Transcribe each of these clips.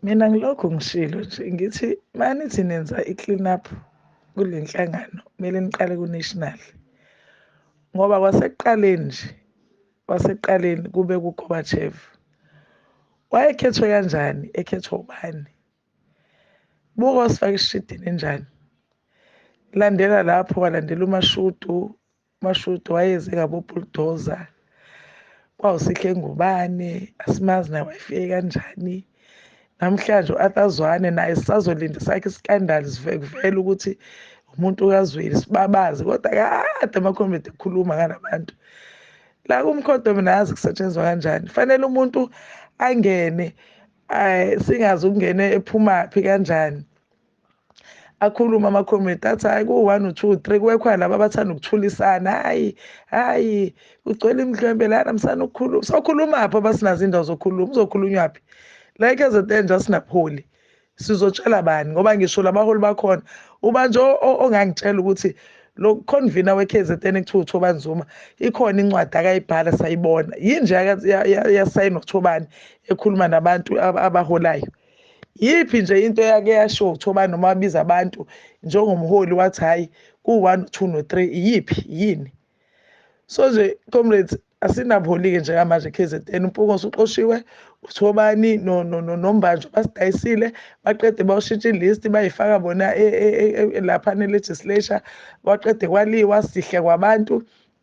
mina ngilokhu ngishilo nje ngithi manithi nenza i-clean up kule nhlangano kumele niqale ku-national ngoba kwasekuqaleni nje kwasekuqaleni kube kugobachev wayekhethwe kanjani ekhethwa ubani buka osifaka isishidini enjani landela lapho walandela umashudu umashudu wayeze ngabobuldoza kwawusihle ngubane asimazi naye wayefike kanjani namhlanje u-athazwane naye sisazolinda sakhe isikandali sivekuvela ukuthi umuntu kazweli sibabazi kodwa kade amakhomedi ekhuluma ngalabantu la kumkhodo mina yazi kusetshenzwa kanjani fanele umuntu angene singazi ukungene ephumaphi kanjani akhulume ama-comrade athi hhayi ku-one u-two three kwekhona laba abathanda ukuthulisana hhayi hhayi kugcwele imidlwembe lana msana ukukhuluma sokhulumaphi abasinazo indawo zokhuluma uzokhulunywaphi la e-kzn nje asinabuholi sizotshela bani ngoba ngisho labaholi bakhona ubanje ongangitshela ukuthi lo convener we-kzn ekuthiwa uthobani zuma ikhona incwadi akayibhala sayibona yinje yasayinwa uthobani ekhuluma nabantu abaholayo yiphi nje into eyake yashiwo kuthiwa noma wabiza abantu njengomholi wathi hhayi ku-one two no-three iyiphi yini so nje comrades asinabholi-ke njengamanje k z n umpunga osuxoshiwe kuthiwa obani nombanjwa basidayisile baqede bawushintsha ilist bayifaka bona e, e, e, laphana elegislature kwaqede kwaliwa sihle kwabantu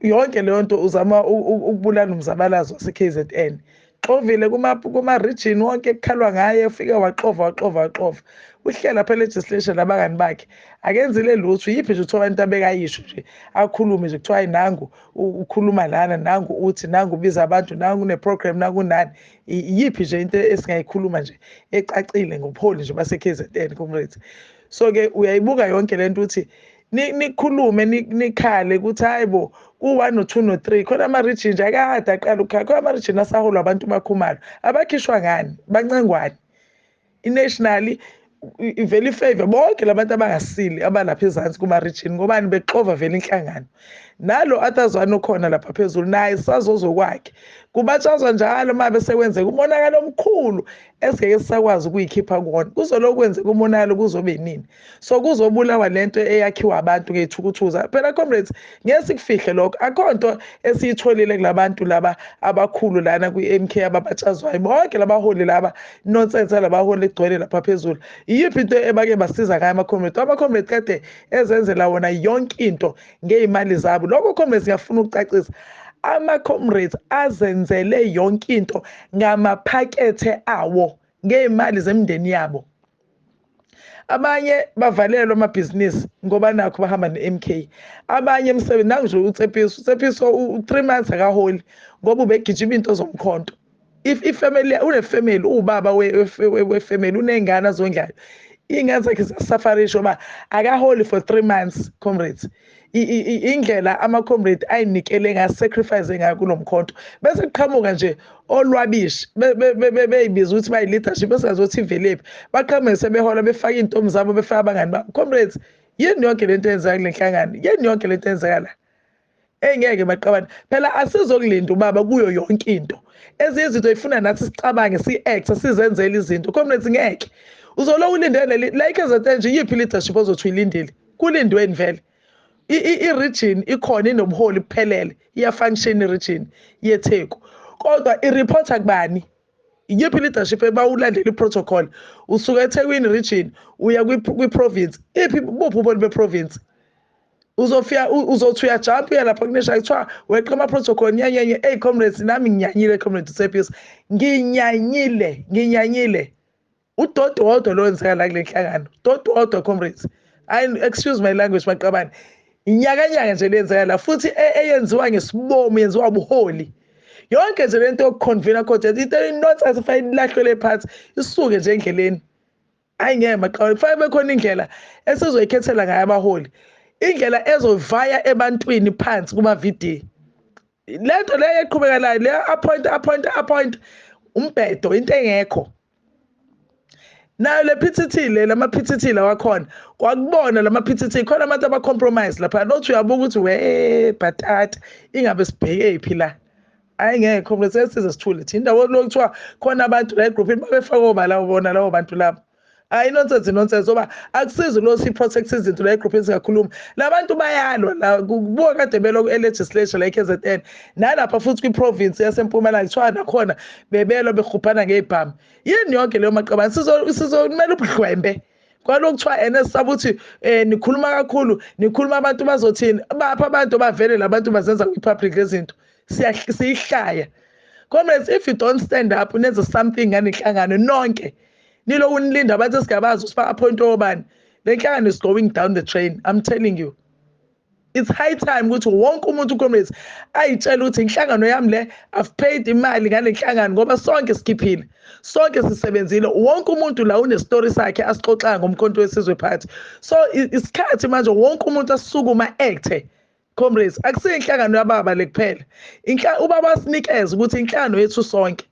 yonke leyo nto uzama ukubulala umzabalazo wase-kzn xovile kuma-region kuma wonke kukhalwa ngaye ufike waxova waxova waxova uhlela phela legislation nabangani bakhe akenzile lutho yiphi nje kuthiwa abantu abekayisho nje akhulume nje kuthiwa hayi nangu ukhuluma lana nangu uthi nangu ubiza abantu nangu une-program nakunani yiphi nje into esingayikhuluma nje ecacile ngobuholi nje base-k z n comrades so-ke uyayibuka yonke le nto ukuthi nikhulume nikhale ukuthi hayi bo ku-one no-two no-three khona ama-region nje akade aqala ukukhala khona ama-region asaholwa abantu bakhumalo abakhishwa ngani bancengwane i-nationally ivele ifave bonke labantu abangasile abalapha ezansi kuma-region ngobani bexova vele inhlangano nalo athazwane okhona lapha phezulu naye sazozokwakhe kubatshazwa njalo uma besekwenzeka umonakalo omkhulu esingeke sisakwazi ukuyikhipha kuwona kuzoloku kwenzeka umonakalo kuzobe nini so kuzobulawa lento eyakhiwa abantu ngeyithukuthuza phela comrades ngeke sikufihle lokho akho nto esiyitholile kulabantu laba abakhulu lana kwi-MK ababatshazwayo bonke labaholi laba nonsense labaholi egcwele lapha phezulu iyiphi into ebake basiza ngayo ama-comrades ama-comrades kade ezenzela wona yonke into ngey'mali zabo lokho comrades ngiyafuna ukucacisa ama-comrades azenzele yonke into ngamaphakethe awo ngey'mali zemindeni yabo abanye bavalelwa amabhizinisi ngoba nakho bahamba ne-mk abanye emsebenzi nangu nje utsepiso utsepiso u-three months akaholi ngoba ubegijima into zomkhonto if ifamily unefamily uwubaba wefamily uney'ngane azondlayo iy'ngane zakhe ziyasafarisha uba akaholi for three months comrades indlela ama-comrade ayinikele ngayo sacrifice ngayo kulo mkhonto bese kuqhamuka nje olwabishi beyibiza ukuthi bayi-leadership esingazothi iveliphi baqhamuke sebehola befake iy'ntombi zabo befake abangani babo comrades yini yonke le nto eyenzeka kule nhlangano yini yonke le nto eyenzeka la engeke baqabane phela asizokulinda ubaba kuyo yonke into ezinye izinto ifuna nathi sicabange si-acte sizenzele izinto comrades ngeke uzoloku ulindele like ezethenje iyiphi leadership ozothi uyilindile Kulindweni vele. I-region ikhona inobuholi buphelele, iyafunction i-region yeTheku. Kodwa i-reporter kubani? Iyiphi leadership ebawulandela i-protocol? Usuka eThekwini region uya kwi-province. Iphi buphi ubuholi be-province? Uzofika uzothi uyajump uya lapha kunesha kuthiwa weqa ama-protocol nyanyenye. Eyi comrades nami nginyanyile comrade Tsepis. Nginyanyile, nginyanyile. udoti wodwa lo wenzeka la kule nhlangano doti wodwa comrades excuse my language maqabane inyakanyaka nje lenzeka la futhi e, eyenziwa ngesibomo yenziwa ubuholi yonke nje lento yokuconvena contest into inonsense fanele ilahlwele phansi isuke nje endleleni ayi ngeke maqabane kufanele bekhona indlela esizoyikhethela ngayo abaholi indlela ezovaya ebantwini phansi kuma-video lento le eqhubeka la le appoint appoint appoint umbhedo into engekho nayo le PTT le lama PTT lawakhona kwakubona lama PTT khona abantu aba compromise lapha nothi uyabuka ukuthi we bhatata ingabe sibheke phi la hayi ngeke comrade sesize sithule thina indawo lokuthiwa khona abantu la egroup babefaka obala ubona lawo bantu labo hayi nonsense nonsense ngoba akusizi lo si-protect izinto la egrouphini singakhuluma la bantu bayalwa la kubuka kade belokhu e-legislature la e-k z n nalapha futhi kwi-province yasempumalanga kuthiwa nakhona bebelwa berhubhana ngey'bhamu yini yonke leyo maqabane sizomele ubuhlwembe kwalokhu kuthiwa ene sisaba ukuthi um eh, nikhuluma kakhulu nikhuluma abantu bazothini baphi abantu bavele la bantu bazenza kwi-public lezinto siyihlaya comrades if you don't stand up nenze something nganihlangano nonke nilo unilinda bathi sigabazi usifaka appoint obani le nhlangano is going down the train i'm telling you it's high time ukuthi wonke umuntu comrades ayitshela ukuthi inhlangano yami le i've paid imali ngale nhlangano ngoba sonke sikhiphile sonke sisebenzile wonke umuntu la unestory sakhe asixoxayo ngomkhonto wesizwe party so isikhathi manje wonke umuntu asukuma acte Comrades, akusiyo inhlangano yababa le kuphela. Inhla ubaba wasinikeza ukuthi inhlangano yethu sonke.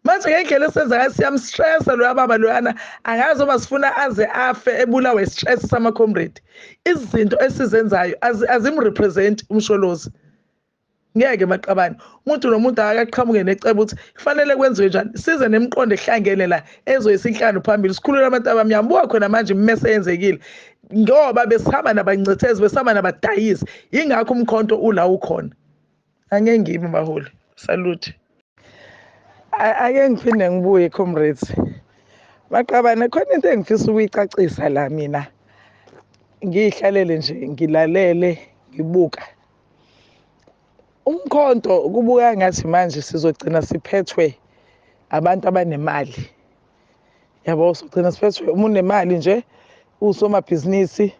Manje ngendlela esenza ngayo siyamstressa loya baba loyana angazi uma sifuna aze afe ebulawe istress sama comrade. Izinto esizenzayo azimrepresent umsholozi. Ngeke maqabane. Umuntu nomuntu akaqhamuke necebo ukuthi kufanele kwenziwe njani. Size nemiqondo ehlangene la ezoyisa inhlangano phambili. Sikhulule abantu abamnyama. Buka khona manje imese yenzekile. ngoba besihamba nabancethezi besihamba nabadayisi yingakho umkhonto ula ukhona angeke ngimi baholi salute ake ngiphinde ngibuye comrades maqabane khona into engifisa ukuyicacisa la mina ngiyihlalele nje ngilalele ngibuka umkhonto kubuka ngathi manje sizogcina siphethwe abantu abanemali yabo sogcina siphethwe uma unemali nje usomabhizinisi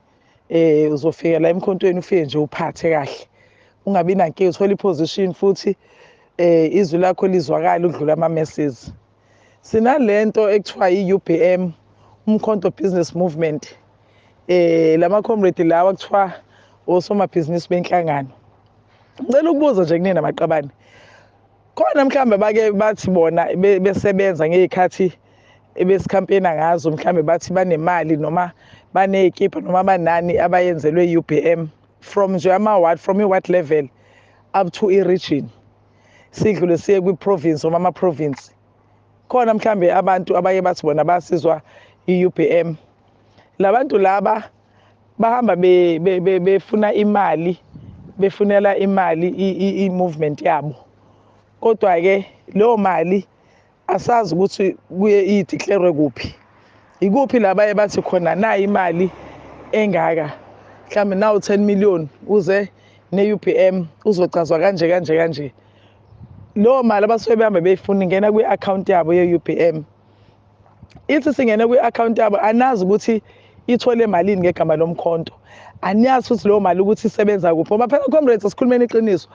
eh uzofika la emkhontweni ufike nje uphathe kahle ungabi nankinga uthole iposition futhi eh izwi lakho lizwakala udlula ama messages sinalento ekuthiwa i-UBM umkhonto business movement eh lama comrade lawa kuthiwa osomabhizinisi benhlangano ngicela ukubuza nje kunina maqabane khona mhlawumbe bake bathi bona besebenza ngey'khathi ebesikhampena ngazo mhlawumbe bathi banemali noma baney'kipha noma banani abayenzelwe i-u b m from nje ama-ward from i-ward level up to i-region sidlule siye kwi-province noma ama-province khona mhlawumbe abantu abaye bathi bona basizwa i-u b m la bantu laba bahamba be, be, be, befuna imali befunela imali i-movement yabo kodwa-ke leyo mali asazi ukuthi kuye ideclare kuphi ikuphi la baye bathi khona nayi imali engaka mhlawumbe nawu 10 million uze ne-UBM uzocazwa kanje kanje kanje leyo mali abasuke behambe beyifuna ingena kwi-akhawunti yabo ye-UBM ithi singene kwi-akhawunti yabo anazi ukuthi ithole malini ngegama lomkhonto aniyazi futhi leyo mali ukuthi isebenza kuphi ngoba phela comrades sikhulumeni iqiniso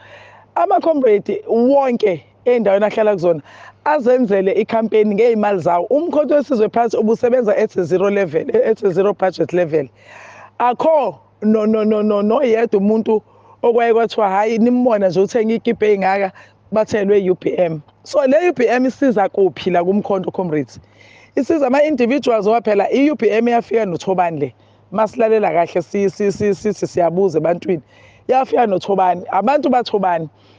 ama-comrade wonke ey'ndaweni ahlala kuzona azenzele ikhampeni ngey'mali zawo umkhonto wesizwe phansi ubusebenza at zero level at zero budget level akho no no no no noyedwa umuntu okwaye kwathiwa hhayi nimbona nje uthenga ikibhe ey'ngaka bathelwe i-upm so le upm isiza kuphi la kumkhonto comrades isiza ama-individuals owa phela i-upm yafika nothobani le masilalela kahle sithi siyabuza ebantwini yafika nothobani abantu bathobani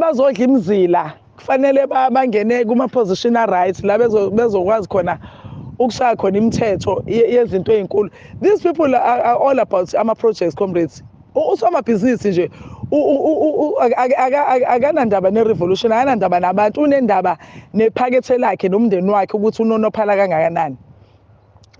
bazodla imizila kufanele bangene kuma-position a-right la bezokwazi khona ukushaya khona imithetho yezinto ey'nkulu these people are, are all about ama-projects comrades usomabhizinisi nje akanandaba ne-revolution akanandaba nabantu unendaba nephakethe lakhe nomndeni wakhe ukuthi unonophala kangakanani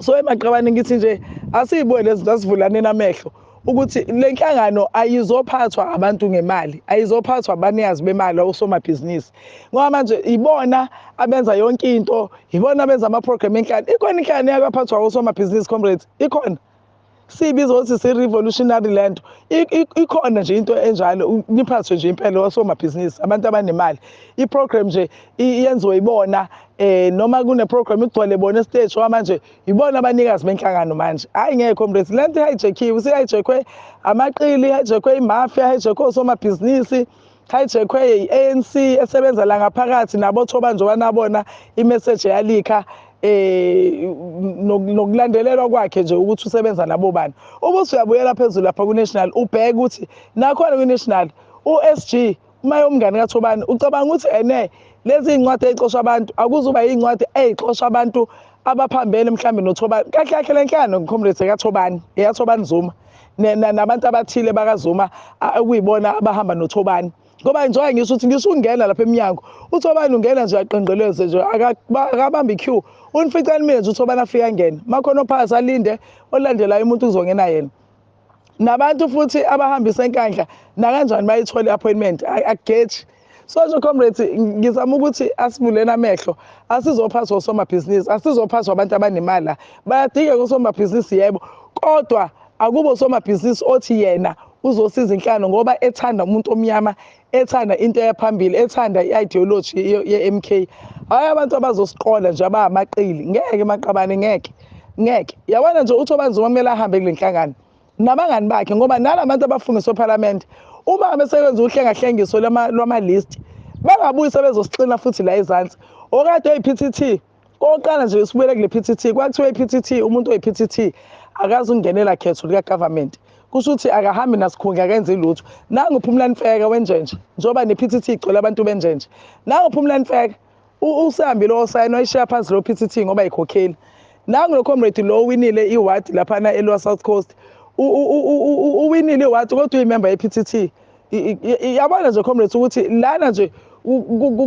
so emaqabane ngithi nje asiyibone lezinto asivulaneni amehlo ukuthi le nhlangano ayizophathwa abantu ngemali ayizophathwa abanikazi bemali osomabhizinisi ngoba manje ibona abenza yonke into ibona abenza ama-program enhlalo ikhona inhlangano eyakaphathwa osomabhizinisi comrades ikhona siyibiza ukuthi si-revolutionary le nto ikhona nje into enjalo niphathwe nje impela osomabhizinisi abantu abanemali i-program nje yenziwe ibona eh noma kune-program igcwele bona esiteji owa manje yibona abanikazi benhlangano manje hhayi ngeke comrades le nto ihayijekhiwe isihayijekhwe amaqili ihayijekwe imafia ihayijekwe osomabhizinisi Hijackwe yi-ANC esebenza la ngaphakathi nabo Thobanjwa nabona imeseji yalikha eh nokulandelelwa kwakhe nje ukuthi usebenza nabo bani uma usuyabuyela phezulu lapha kuNational ubheke ukuthi nakhona kuNational uSG uma yomngane kaThobani ucabanga ukuthi ene lezi incwadi ezixosha abantu akuzuba incwadi ezixosha abantu abaphambene mhlambe noThobani kahle kahle lenhlangano ngicomrades ekaThobani eyaThobani Zuma nabantu abathile bakazuma okuyibona abahamba nothobani ngoba njengoba ngisho ukuthi ngisho ungena lapha emnyango uthobani ungena nje uyaqengeleze nje akabambi i-q unificani mina nje uthobani afike angene makhona ophakathi alinde olandelayo umuntu kuzongena yena nabantu futhi abahambisa enkandla nakanjani bayithole i-appointment akugeji so nje comrades ngizama ukuthi asivuleni amehlo asizophaswa osomabhizinisi asizophaswa abantu abanemali la bayadingeka osomabhizinisi yebo kodwa akubo osomabhizinisi othi yena uzosiza inhlano ngoba ethanda umuntu omnyama ethanda into eyaphambili ethanda i-ideology ye-m k hhayi abantu abazosiqola nje abamaqili ngeke maqabane ngeke ngeke yabona nje uthi obanzima kumele ahambe kule nhlangano nabangani bakhe ngoba nala bantu abafungiswa ephalamende uma ngabe sekwenza uhlengahlengiso lwama-list bangabuyi sebezosixina futhi la ezansi okade oyi-p t t kokuqala nje sibuyele kule-p t t kwakuthiwa i-p t t umuntu oyi-p t t akazi ukungenela khetho likagovernment kusho ukuthi akahambi nasikhundla akenzi lutho nanguphumula nifeka wenjenje njengoba ne-p t t igcwele abantu benjenje nanguphumula nifeka usihambi lo osayini wayishiya phansi lo pct ngoba yikhokheli nangu lo comrade lo winile iward laphana elwa south coast uwinile iward kodwa uyimemba ye-pct yabona nje comrades ukuthi lana nje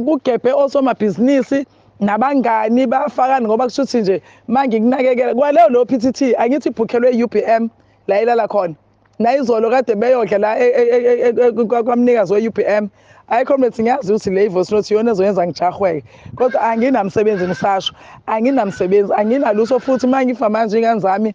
kugebhe osomabhizinisi nabangani bafakani ngoba kusho ukuthi nje mangikunakekela kwaleyo leyo pct angithi ibhukhelwe i-ubm la ilala khona nayizolo kade beyodla la e, e, e, kwamnikazi we-ubm hayi comrades ngiyazi ukuthi le voice note iyona ezoyenza ngijahweke kodwa anginamsebenzi ngisasho anginamsebenzi anginalutho futhi uma ngifa manje ingane zami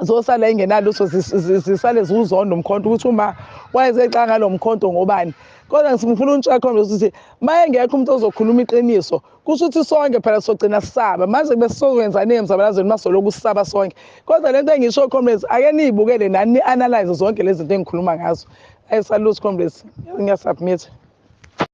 zosala ingenalutho zisale ziwuzonda umkhonto ukuthi uma wayezexa ngalo mkhonto ngobani kodwa ngifuna untsha comrades ukuthi uma engekho umuntu ozokhuluma iqiniso kusho ukuthi sonke phela sogcina sisaba manje kube sizokwenzani emzabalazweni masoloku sisaba sonke kodwa lento engisho comrades ake niyibukele nani ni-analyze zonke lezi zinto engikhuluma ngazo ayisalusi comrades ngiyasubmit